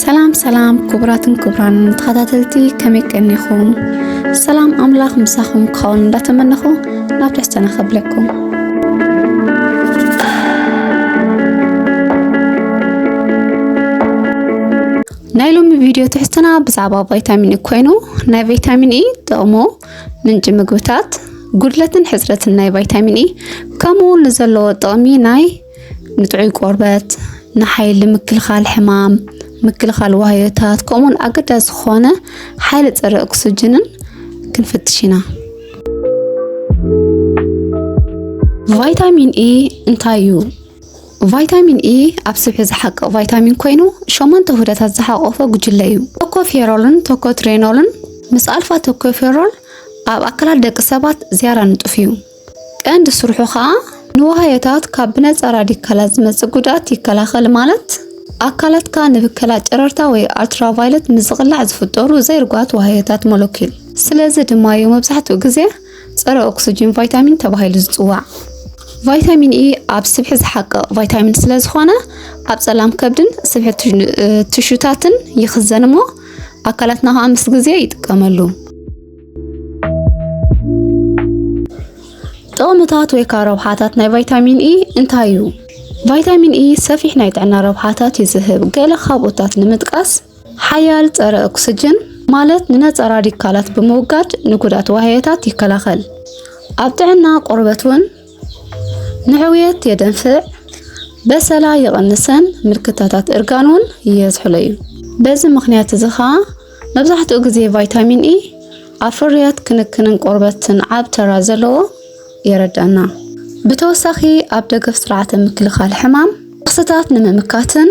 ሰላም ሰላም ክቡራትን ክቡራን ተኸታተልቲ ከመይ ቀኒኹም? ሰላም ኣምላኽ ምሳኹም ክኸውን እንዳተመነኹ ናብ ትሕዝቶና ከብለኩም። ናይ ሎሚ ቪድዮ ትሕዝቶና ብዛዕባ ቫይታሚን ኢ ኮይኑ ናይ ቫይታሚን ኢ ጥቕሙ፣ ምንጪ ምግብታት ጉድለትን ሕፅረትን ናይ ቫይታሚን ኢ ከምኡ እውን ንዘለዎ ጥቕሚ ናይ ንጥዑይ ቆርበት ንሓይሊ ምክልኻል ሕማም ምክልኻል ዋህዮታት ከምኡውን ኣገዳሲ ዝኾነ ሓይሊ ፀረ ኦክስጅንን ክንፍትሽ ኢና ቫይታሚን ኢ እንታይ እዩ ቫይታሚን ኢ ኣብ ስብሒ ዝሓቅቕ ቫይታሚን ኮይኑ ሸሞንተ ውህደታት ዝሓቆፈ ጉጅለ እዩ። ቶኮፌሮልን ቶኮትሬኖልን ምስ ኣልፋ ቶኮፌሮል ኣብ ኣካላት ደቂ ሰባት ዝያዳ ንጡፍ እዩ። ቀንዲ ስርሑ ከዓ ንዋህዮታት ካብ ብነፃ ራዲካላት ዝመፅእ ጉድኣት ይከላኸል ማለት ኣካላትካ ንብከላ ጨረርታ ወይ ኣልትራቫይለት ምዝቕላዕ ዝፍጠሩ ዘይርጓት ዋህዮታት ሞለኪል ስለዚ ድማ እዩ መብዛሕትኡ ግዜ ጸረ ኦክስጅን ቫይታሚን ተባሂሉ ዝጽዋዕ ቫይታሚን ኢ ኣብ ስብሒ ዝሓቅቕ ቫይታሚን ስለ ዝኾነ ኣብ ጸላም ከብድን ስብሒ ትሹታትን ይኽዘን እሞ ኣካላትና ከዓ ምስ ግዜ ይጥቀመሉ። ጥቕምታት ወይ ከዓ ረብሓታት ናይ ቫይታሚን ኢ እንታይ እዩ? ቫይታሚን ኢ ሰፊሕ ናይ ጥዕና ረብሓታት ይዝህብ። ገለ ካብኡታት ንምጥቃስ ሓያል ጸረ ኦክስጅን ማለት ንነጸራ ዲካላት ብምውጋድ ንጉዳት ዋህዮታት ይከላኸል። ኣብ ጥዕና ቆርበት እውን ንሕውየት የደንፍዕ፣ በሰላ ይቕንሰን ምልክታታት እርጋን እውን የዝሕሎ እዩ። በዚ ምክንያት እዚ ከዓ መብዛሕትኡ ግዜ ቫይታሚን ኢ ኣብ ፍርያት ክንክንን ቆርበትን ዓብ ተራ ዘለዎ የረድኣና። ብተወሳኺ ኣብ ደገፍ ስርዓተ ምክልኻል ሕማም ክስታት ንምምካትን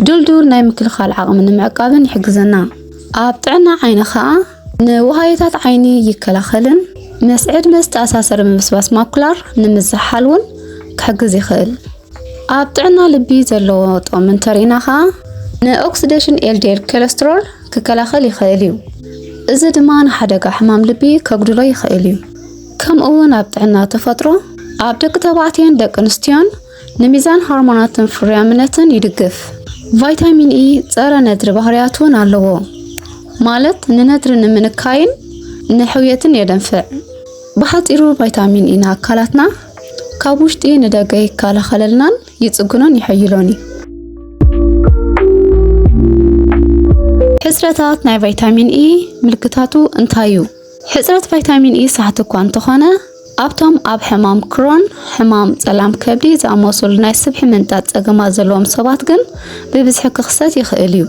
ድልዱል ናይ ምክልኻል ዓቕሚ ንምዕቃብን ይሕግዘና። ኣብ ጥዕና ዓይኒ ኸኣ ንውሃዮታት ዓይኒ ይከላኸልን ምስ ዕድመ ዝተኣሳሰረ ምብስባስ ማኩላር ንምዝሓል እውን ክሕግዝ ይኽእል። ኣብ ጥዕና ልቢ ዘለዎ ጥቕሚ እንተርኢና ኸኣ ንኦክሲዴሽን ኤልዲኤል ኮለስትሮል ክከላኸል ይኽእል እዩ። እዚ ድማ ንሓደጋ ሕማም ልቢ ከጉድሎ ይኽእል እዩ። ከምኡ'ውን ኣብ ጥዕና ተፈጥሮ ኣብ ደቂ ተባዕትዮን ደቂ ኣንስትዮን ንሚዛን ሆርሞናትን ፍርያምነትን ይድግፍ። ቫይታሚን ኢ ጸረ ነድሪ ባህርያት እውን ኣለዎ፣ ማለት ንነድሪ ንምንካይን ንሕውየትን የደንፍዕ። ብሓጺሩ ቫይታሚን ኢ ንኣካላትና ካብ ውሽጢ ንደገ ይከላኸለልናን ይጽግኖን ይሕይሎን እዩ። ሕጽረታት ናይ ቫይታሚን ኢ ምልክታቱ እንታይ እዩ? ሕጽረት ቫይታሚን ኢ ሳሕቲ እኳ እንተኾነ ኣብቶም ኣብ ሕማም ክሮን፣ ሕማም ጸላም ከብዲ ዝኣመሰሉ ናይ ስብሒ ምንጣጥ ጸገማት ዘለዎም ሰባት ግን ብብዝሒ ክኽሰት ይኽእል እዩ።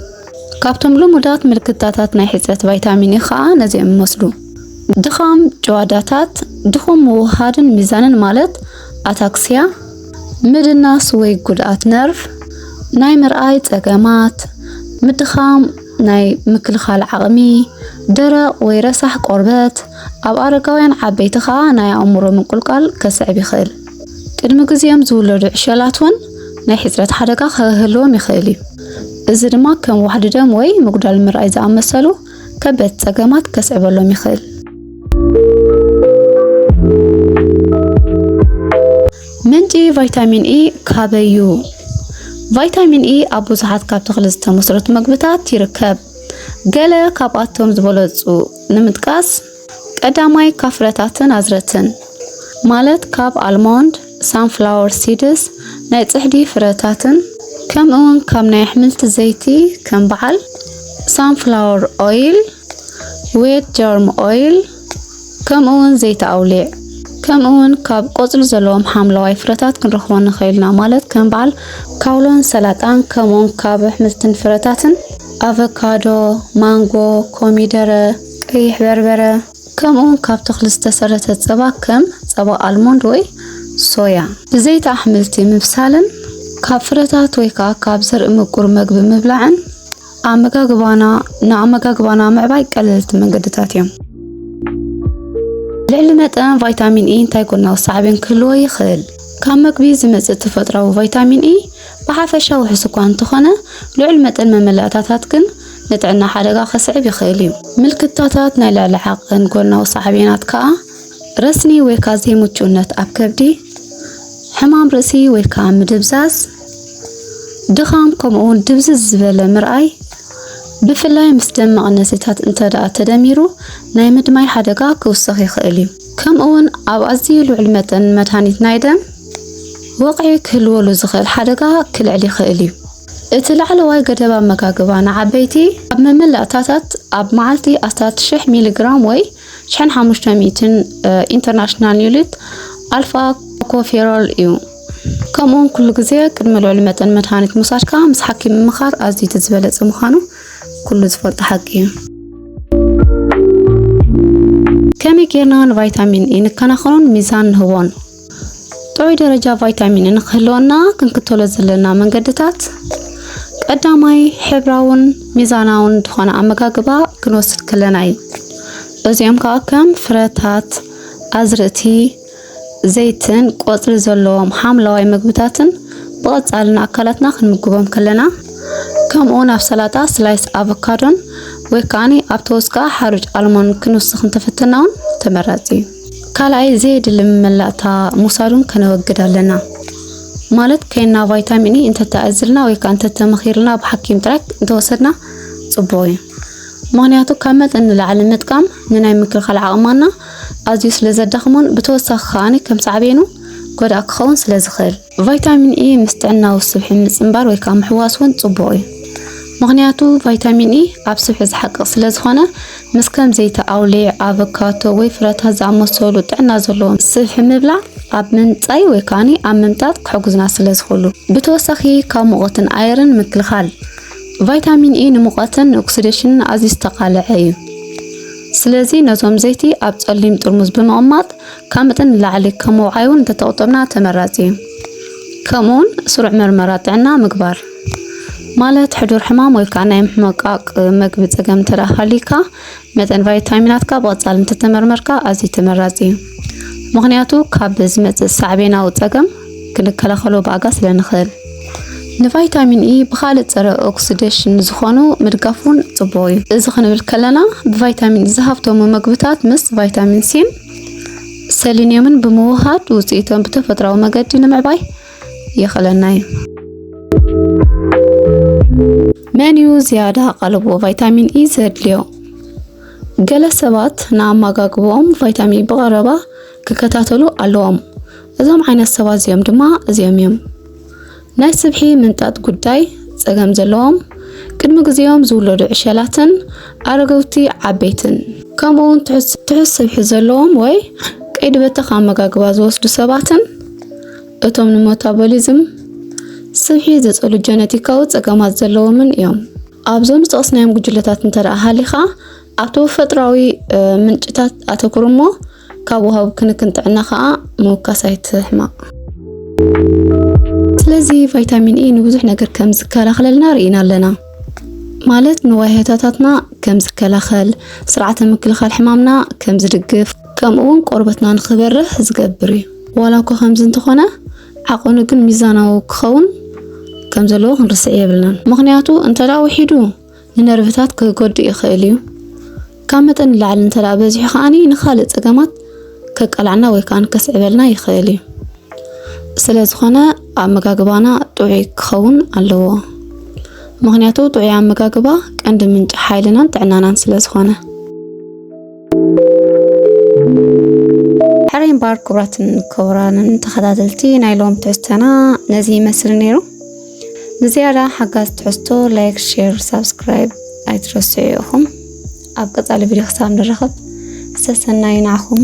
ካብቶም ልሙዳት ምልክታታት ናይ ሕጽረት ቫይታሚን ኢ ኸኣ ነዚኦም ይመስሉ። ድኻም ጭዋዳታት፣ ድኹም ምውህሃድን ሚዛንን ማለት ኣታክስያ፣ ምድናስ ወይ ጉድኣት ነርቭ፣ ናይ ምርኣይ ጸገማት፣ ምድኻም ናይ ምክልኻል ዓቕሚ፣ ደረቕ ወይ ረሳሕ ቆርበት፣ ኣብ ኣረጋውያን ዓበይቲ ከኣ ናይ ኣእምሮ ምንቁልቋል ከስዕብ ይኽእል። ቅድሚ ግዜኦም ዝውለዱ ዕሸላት እውን ናይ ሕጽረት ሓደጋ ከህልዎም ይኽእል እዩ፣ እዚ ድማ ከም ዋሕዲ ደም ወይ ምጉዳል ምርኣይ ዝኣመሰሉ ከበድቲ ጸገማት ከስዕበሎም ይኽእል። ምንጪ ቫይታሚን ኢ ካበይ እዩ? ቫይታሚን ኢ ኣብ ብዙሓት ካብ ተኽሊ ዝተመስረቱ መግብታት ይርከብ። ገለ ካብኣቶም ዝበለጹ ንምጥቃስ፣ ቀዳማይ ካብ ፍረታትን ኣዝርእትን፣ ማለት ካብ ኣልሞንድ፣ ሳንፍላወር ሲድስ፣ ናይ ጽሕዲ ፍረታትን፣ ከምኡ'ውን ካብ ናይ ኣሕምልቲ ዘይቲ ከም በዓል ሳንፍላወር ኦይል፣ ዌት ጀርም ኦይል፣ ከምኡ'ውን ዘይቲ ኣውሊዕ፣ ከምኡ'ውን ካብ ቆጽሊ ዘለዎም ሓምለዋይ ፍረታት ክንረኽቦ ንኽእል ኢና፣ ማለት ከም በዓል ካውሎን ሰላጣን፣ ከምኡ'ውን ካብ ኣሕምልትን ፍረታትን ኣቨካዶ፣ ማንጎ፣ ኮሚደረ፣ ቀይሕ በርበረ፣ ከምኡውን ካብ ተኽሊ ዝተሰረተ ጸባ ከም ጸባ ኣልሞንድ ወይ ሶያ። ብዘይቲ ኣሕምልቲ ምብሳልን ካብ ፍረታት ወይ ከኣ ካብ ዘርኢ ምቁር መግቢ ምብላዕን ኣመጋግባና ንኣመጋግባና ምዕባይ ቀለልቲ መንገድታት እዮም። ልዕሊ መጠን ቫይታሚን ኢ እንታይ ጎናዊ ሳዕቤን ክህልዎ ይኽእል? ካብ መግቢ ዝመጽእ ተፈጥሮኣዊ ቫይታሚን ኢ ብሓፈሻ ውሑስ እኳ እንተኾነ፣ ልዑል መጠን መመላእታታት ግን ንጥዕና ሓደጋ ከስዕብ ይኽእል እዩ። ምልክታታት ናይ ልዕሊ ዓቕን ጎናዊ ሳዕቤናት ከኣ ረስኒ ወይካ ዘይምቹእነት ኣብ ከብዲ፣ ሕማም ርእሲ ወይካ ምድብዛዝ፣ ድኻም ከምኡውን ድብዝዝ ዝበለ ምርኣይ ብፍላይ ምስ ደም መቐነሲታት እንተደኣ ተደሚሩ ናይ ምድማይ ሓደጋ ክውስኽ ይኽእል እዩ። ከምኡውን ኣብ ኣዝዩ ልዑል መጠን መድሃኒት ናይ ደም ወቕዒ ክህልወሉ ዝኽእል ሓደጋ ክልዕል ይኽእል እዩ። እቲ ላዕለዋይ ገደብ ኣመጋግባ ንዓበይቲ ኣብ መመላእታታት ኣብ መዓልቲ ኣስታት 1000 ሚሊግራም ወይ 1500 ኢንተርናሽናል ዩኒት ኣልፋ ኮፌሮል እዩ። ከምኡውን ኩሉ ግዜ ቅድሚ ልዑል መጠን መድሃኒት ምውሳድካ ምስ ሓኪም ምምኻር ኣዝዩ እቲ ዝበለጸ ምዃኑ ኩሉ ዝፈልጦ ሓቂ እዩ። ከመይ ጌርና ንቫይታሚን ኢ ንከናኸኖን ሚዛን ንህቦን? ጥዑይ ደረጃ ቫይታሚን ንክህልወና ክንክተሎ ዘለና መንገድታት ቀዳማይ ሕብራውን ሚዛናውን ዝኾነ ኣመጋግባ ክንወስድ ከለና እዩ። እዚኦም ከዓ ከም ፍረታት፣ ኣዝርእቲ፣ ዘይትን ቆፅሊ ዘለዎም ሓምለዋይ ምግብታትን ብቐፃሊ ንኣካላትና ክንምግቦም ከለና ከምኡውን ኣብ ሰላጣ ስላይስ ኣቮካዶን ወይ ከዓኒ ኣብ ተወስካ ሓሩጭ ኣልሞን ክንውስኽ እንተፈተና እውን ተመራፂ እዩ። ካልኣይ ዘየድሊ መመላእታ ምውሳዱን ከነወግድ ኣለና ማለት ከይና ቫይታሚን ኢ እንተተኣዝልና ወይ ከዓ እንተተመኺርልና ብሓኪም ጥራይ እንተወሰድና ፅቡቅ እዩ ምክንያቱ ካብ መጠን ንላዕሊ ምጥቃም ንናይ ምክልኻል ዓቕማና ኣዝዩ ስለ ዘዳኽሞን ብተወሳኺ ከዓኒ ከም ሳዕቤኑ ጎዳእ ክኸውን ስለ ዝኽእል ቫይታሚን ኢ ምስ ጥዕናዊ ስብሒ ምጽንባር ወይ ከዓ ምሕዋስ እውን ጽቡቕ እዩ። ምክንያቱ ቫይታሚን ኢ ኣብ ስብሒ ዝሓቅቕ ስለ ዝኾነ ምስ ከም ዘይቲ ኣውሊዕ፣ ኣቮካቶ ወይ ፍረታት ዝኣመሰሉ ጥዕና ዘለዎም ስብሒ ምብላዕ ኣብ ምምጻይ ወይ ከዓ ኣብ ምምጣጥ ክሕግዙና ስለ ዝኽእሉ። ብተወሳኺ ካብ ሙቐትን ኣየርን ምክልኻል። ቫይታሚን ኢ ንሙቐትን ንኦክሲዴሽንን ኣዝዩ ዝተቓልዐ እዩ። ስለዚ ነዞም ዘይቲ ኣብ ጸሊም ጥርሙዝ ብምቕማጥ ካብ መጠን ንላዕሊ ካብ ምውዓይ እውን እንተተቑጠብና ተመራፂ እዩ። ከምኡ እውን ስሩዕ መርመራ ጥዕና ምግባር ማለት ሕዱር ሕማም ወይ ከዓ ናይ ምሕመቃቅ መግቢ ፀገም እንተደኣ ሃልዩካ መጠን ቫይታሚናትካ ብቐፃሊ እንተተመርመርካ ኣዝዩ ተመራፂ እዩ። ምክንያቱ ካብ ዝመፅእ ሳዕቤናዊ ፀገም ክንከላኸሎ ብኣጋ ስለ ንኽእል። ንቫይታሚን ኢ ብካልእ ፀረ ኦክሲዴሽን ዝኾኑ ምድጋፍ እውን ፅቡቕ እዩ። እዚ ክንብል ከለና ብቫይታሚን ኢ ዝሃብተሙ መግብታት ምስ ቫይታሚን ሲን ሰሊንየምን ብምውሃድ ውፅኢቶም ብተፈጥራዊ መገዲ ንምዕባይ የኽእለና እዩ። መን እዩ ዝያዳ ቃልቦ ቫይታሚን ኢ ዘድልዮ? ገለ ሰባት ንኣመጋግባኦም ቫይታሚን ብቐረባ ክከታተሉ ኣለዎም። እዞም ዓይነት ሰባት እዚኦም ድማ እዚኦም እዮም። ናይ ስብሒ ምንጣጥ ጉዳይ ጸገም ዘለዎም ቅድሚ ግዜኦም ዝውለዱ ዕሸላትን ኣረገውቲ ዓበይትን ከምኡውን ትሑት ስብሒ ዘለዎም ወይ ቀይዲ በተኽ ኣመጋግባ ዝወስዱ ሰባትን እቶም ንመታቦሊዝም ስብሒ ዝጸሉ ጀነቲካዊ ጸገማት ዘለዎምን እዮም። ኣብዞም ዝጠቕስናዮም ጉጅለታት እንተ ሃሊኻ ኣብ ተፈጥራዊ ምንጭታት ኣተኩር እሞ ካብ ወሃብ ክንክን ጥዕና ከዓ ምውካስ ኣይትሕማቕ። ስለዚ ቫይታሚን ኤ ንብዙሕ ነገር ከም ዝከላኸለልና ርኢና ኣለና ማለት ንዋይሆታታትና ከም ዝከላኸል፣ ስርዓተ ምክልኻል ሕማምና ከም ዝድግፍ፣ ከምኡ እውን ቆርበትና ንክበርህ ዝገብር እዩ። ዋላ እኮ ከምዚ እንተኾነ ዓቐኑ ግን ሚዛናዊ ክኸውን ከም ዘለዎ ክንርስዕ የብልናን። ምክንያቱ እንተደኣ ውሒዱ ንነርቭታት ክጎድእ ይኽእል እዩ። ካብ መጠን ንላዕሊ እንተ በዚሑ ከዓኒ ንኻልእ ጸገማት ከቃልዓና ወይ ከዓ ከስዕበልና ይኽእል እዩ። ስለ ዝኾነ ኣመጋግባና ጥዑይ ክኸውን ኣለዎ። ምክንያቱ ጥዑይ ኣመጋግባ ቀንዲ ምንጪ ሓይልናን ጥዕናናን ስለ ዝኾነ። ሕራይ እምበኣር ክቡራትን ክቡራንን ተኸታተልቲ ናይ ሎም ትሕዝቶና ነዚ ይመስል ነይሩ። ንዝያዳ ሓጋዝ ትሕዝቶ ላይክ ሼር ሳብስክራይብ ኣይትረስዑ ኢኹም ኣብ ቀፃሊ ቪድዮ ክሳብ ንራኸብ ሰሰናዩ ንዓኹም